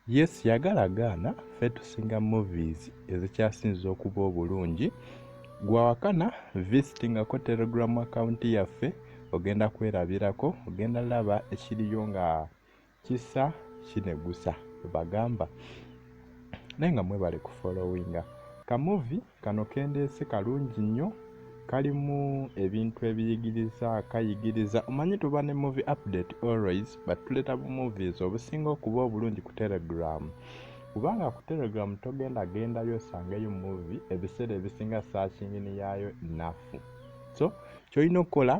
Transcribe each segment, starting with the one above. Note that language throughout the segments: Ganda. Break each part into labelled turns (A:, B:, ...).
A: Yes yagala gaana ffe tusinga movies ezikyasinza okuba obulungi gwawakana visitingako telegram account yaffe ogenda kwerabirako ogenda laba ekiriyo nga kisa kinegusa bagamba naye nga mwebale kufollowinga kamuvi Kano kendeese kalungi nnyo kalimu ebintu ebiyigiriza kayigiriza omanyi tuba ne movie update always but tuleeta bu movies obusinga okuba obulungi ku telegram kubanga ku telegram togenda gendayo osangeyo movie ebiseera ebisinga saakingini yaayo nafu so kyolina okukola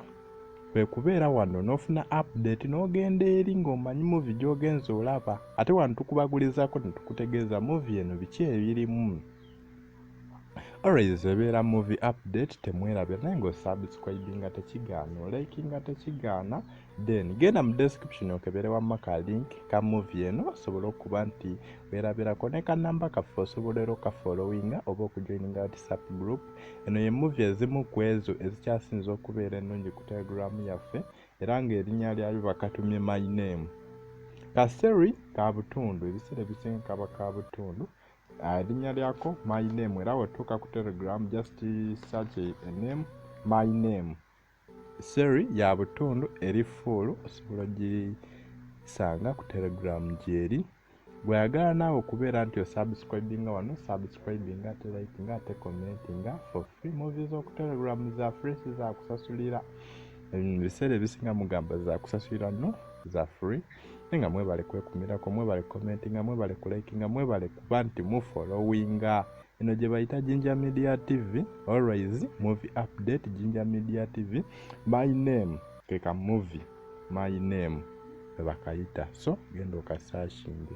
A: kwe kubeera wano n'ofuna update n'ogenda eri ng'omanyi muvi gy'ogenza olaba ate wano tukubagulizako ne tukutegeeza muvi eno biki ebirimu always ebeera movie update temwerabira naye nga osubscribinga tekigaana olikinga tekigaana then genda mu description okebere wamma ka link ka movie eno osobole okuba nti werabirako ne kanamba kaffe osobola era okafollowinga oba okujoininga whatsapp group eno ye movie ezimu ku ezo ezikyasinza okubeera ennungi ku telegram yaffe era ng'erinnya lyayo bakatumye my name kaseri ka butundu ebiseera ebisinga kaba ka butundu ah, erinnya lyako my name era wetuuka ku telegram just search a name my name seri ya butundu eri fuulu osobola ogisanga ku telegram gyeri bweyagala naawe okubeera nti osubscribinga wano subscribinga ate likinga ate commentinga for free movi zokutelegram za free sizakusasulira ebiseera ebisinga mugamba zakusasulira no za free naye nga mwebale kwekumirako mwebale commentinga mwebale kulikinga mwebale kuba nti mufolowinga eno gye bayita jinja media tv always movie update jinja media tv my name keka movie my name webakayita so genda okasashinge